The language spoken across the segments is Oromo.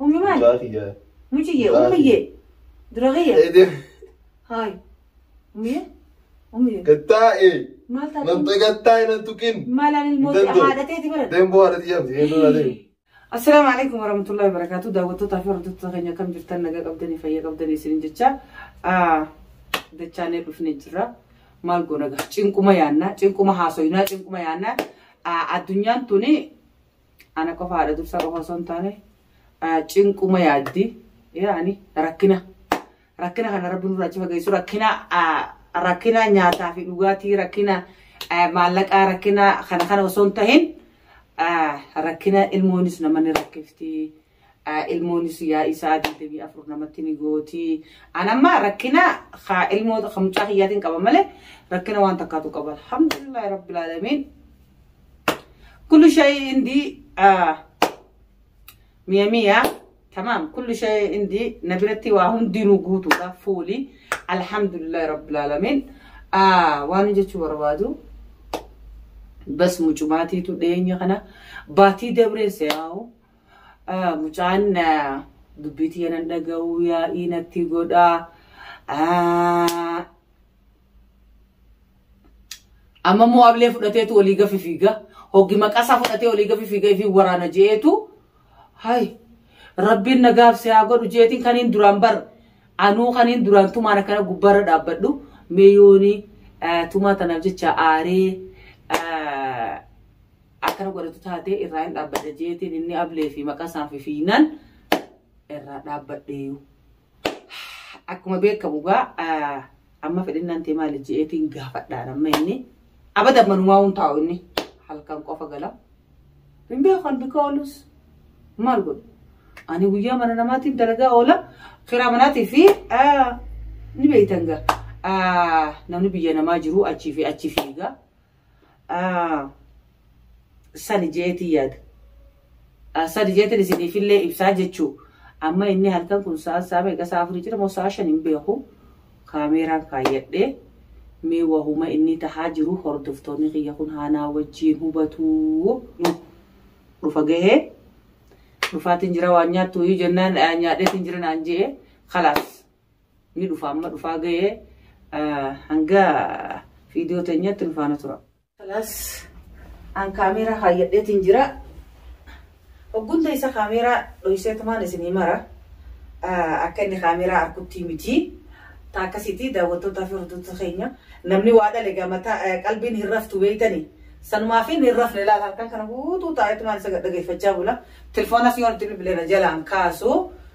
Ummi maal? Mucaa kiyya. Muciyye, Mucaa ummiyye. Dura kiyya. Eedee. Haay. Ummiyye. Ummiyye. Gattaa'e. Maal taate? Namta gattaa'e nan tuqin. Maalaan ilmoo Dandoo. haadhateeti bara. Demboo haadha xiyyaa miti. Eedoo naa deemu. Assalaamu alaikum warahmatullahi wabarakatuh. Daawwattootaa fi hordoftoota keenya akkam jirtan nagaa qabdanii fayyaa qabdanii isiniin jecha ah, dachaanee dhufnee jirra. Maal goona gaa? Cinquma yaannaa, cinquma haasoyinaa, cinquma yaannaa. Ah, Addunyaan tuni Ana qofa haadha dursa qofa osoo hin taane cinquma yaaddi. Yaani rakkina. Rakkina kana rabbi nurraa achi fageessu rakkina rakkina nyaataa fi dhugaatii rakkina maallaqaa rakkina kana kana osoo hin tahin rakkina ilmoonis nama ni rakkifti. ilmoonis yaa'ii sa'a 24 namatti ni gooti. An amma rakkina haa ilmoo kan mucaa kiyyaatiin qaba malee rakkina waan takkaatu qaba. Alhamdulillah rabbil alamin. Kullu shay indi miya miya tamam kullu shay indi na biratti waa hundinuu guutuudha fuuli. Alhamdulillah rabbil alamin. Waan jechuu barbaadu. Bas mucumaatiitu dhiyeenya kana baatii dabree se'aawu. Ah, Mucaan ah, dubbii tiyya nan dhaga'uu yaa'ii natti godhaa. Ah, Amma immoo ablee fudhateetu olii gafi fiiga. Hoggi maqasaa fudhatee olii gafi fiiga fi waraana je'eetu. Hay rabbiin nagaaf si haa godhu jeetiin kaniin duraan bar anuu kaniin duraan tumaan akkana gubbaarra dhaabbadhu mee yooni ah, tumaa tanaaf jecha aaree ah, akkana godhatu taatee irraa hin dhaabbadha jeetiin inni ablee fi maqaa isaan fi fiinan irraa dhaabbadheeyu. Akkuma beekamu gaa amma fedhinnaan tee maali jeetiin gaafadhaan amma inni abada manumaa hun taa'u inni halkan qofa gala. Hin beekan bika oolus maal godhu. Ani guyyaa mana namaatiin dalagaa oola kiraa manaatii fi ni beektan gaa. namni biyya namaa jiru achii fi achi fiiga. sani jeetii yaada. Sadi jeetiin isiniifillee ibsaa jechuu amma inni halkan kun sa'a sa'a meeqa sa'a afurii jira moo sa'a shan hin beeku kaameeraan kaayyadhee mee wahuma inni tahaa jiru hordoftoonni kiyya kun haanaa wajjiin hubatuu dhufa gahee dhufaatiin jira waan nyaattu iyyuu jennaan nyaadheetiin jira naan je'e kalaas. ni dhufa amma dhufaa ga'ee hanga viidiyoo teenyatti nu faana tura. Kalaas an kaameeraa kaayyadheetiin jira. Hoggunta isa kaameeraa dhohiseetumaan isinii mara akka inni kaameeraa harkuttii miti. Taa akkasiitii daawwattootaa fi hordoftoota keenya namni waa dhale gamata qalbiin hin raftu beeytani. Sanumaa fi hin rafne laal halkan kana guutuu taa'eetumaan isa dhaggeeffachaa bula. Tilfoonas yoo nuti bilbileera jalaan kaasu.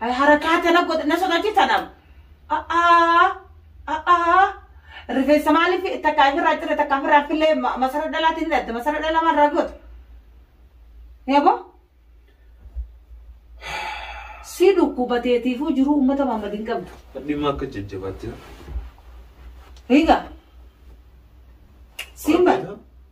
harakaa tana godhe na sodaachisa nam. A'aa a'aa rifeensa maaliif takka ofirraa cire takka ofirraa fillee masara dhalaatiin ni dhatte masara dhalaa maal irraa goote. Yabo si dhukkubateetiifuu jiruu uummata Maammadin qabdu. Dhimma akka jajjabaatti. Hiika. Siin bara.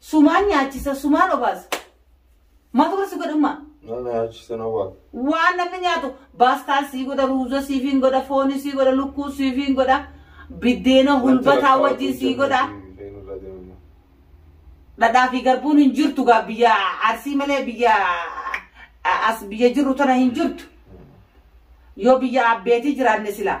Sumaan nyaachisa, sumaan obaasa. Maaltu godha si godhummaa? Nama nyaachisa na waa. Waan namni nyaatu baastaa sii godha, ruuza siifiin godha, fooni sii godha, lukkuu siifiin godha, biddeena hulbataa wajjin sii godha. Dhadhaa fi garbuun hin jirtu gaa biyya arsii malee biyya a- as biyya jirru tana hin jirtu. Yoo biyya abbeetii jiraanne silaa.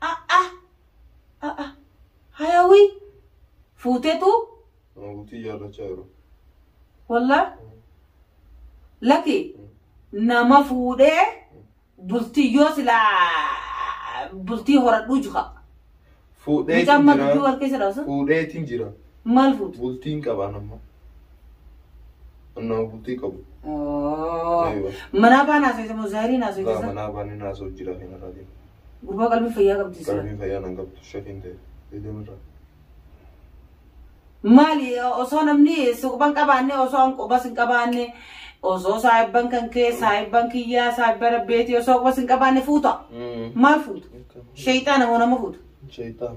A'a. A'a. Hayawii. Fuutetu. Nama bultii jaallachaa jiru. Wallaa. Laki. Nama fuudhee bultii yoo silaa bultii horadhuu juha. Fuudheetiin Mucaan madduu jira. warqee jedhamu sun Fuudheetiin jira. maal fuutu? Bultiin qabaan amma. Annaa bultii qabu. Aywa. Manaa baan haasofte moo zaahiriin Laa haasofte san? manaa baanii naasoo jira kan irraa deemu. Gurbaa qalbii fayyaa qabdi sila. Qalbii fayyaa nan qabdu shakiin ta'e. Deedeem irraa. Maali osoo namni suuqban qabaanne osoo an qubas hin qabaanne osoo saahibban kan kee saahibban kiyyaa saahibban abbeetii osoo qubas hin qabaanne fuuta. Maal fuuta? Sheeyxaana moo nama fuuta? Shaytaan.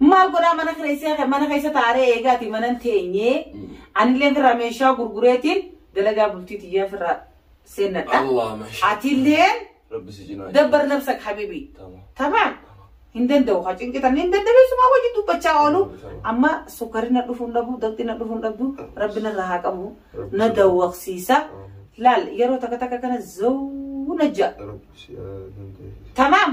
Maal godhaa mana kireessee mana keessa taaree eegaati mana hin teenyee anillee firraa meeshaa gurgureetiin dalagaa bultii tiyyaa firraa seennadha. Allah masha. Atillee Rabbi si cinaa. dabbar nabsak habibi. Tamam. Tamaan hin danda'u haa cinqitan hin dandabeessumaa wajjin dubbachaa oolu amma sukkarri na dhufuun dhabu dabxi na dhufuun dhabdu rabbi narraa haa qabu na dawwaqsiisa laal yeroo takka takka kana zawuu na ja'a Rabbi si haa dandeessisu. tamaam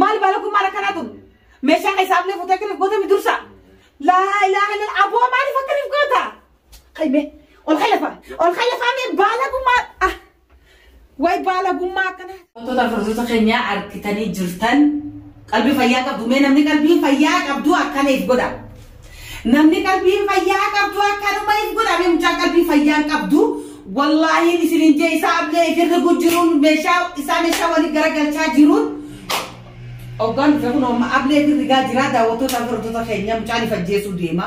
Maali baalaguu maal akkanaa tun? Meeshaa keessaaf lee fuutee akkaniif gootami dursa. Laa ilaa ilaa aboo maaliif akkaniif goota? Qayme ol kallafa ol kallafa mee baalaguu maal ah way baalagummaa akkanaa. Wantoota hordoftoota keenyaa argitanii jirtan qalbii fayyaa qabdu mee namni qalbii fayyaa qabdu akkaniif godha. Namni qalbii fayyaa qabdu akkanuma hin godhame mucaan qalbii fayyaa hin qabdu. Wallaahiin isinin jee isaa ablee ifirri kun jiruun meeshaa isaa meeshaa waliin garagalchaa jiruun. Oggaan dhufe kun amma ablee ifirri gaa jiraa daawwattoota hordoftoota keenya mucaan ifajjeesuu deema.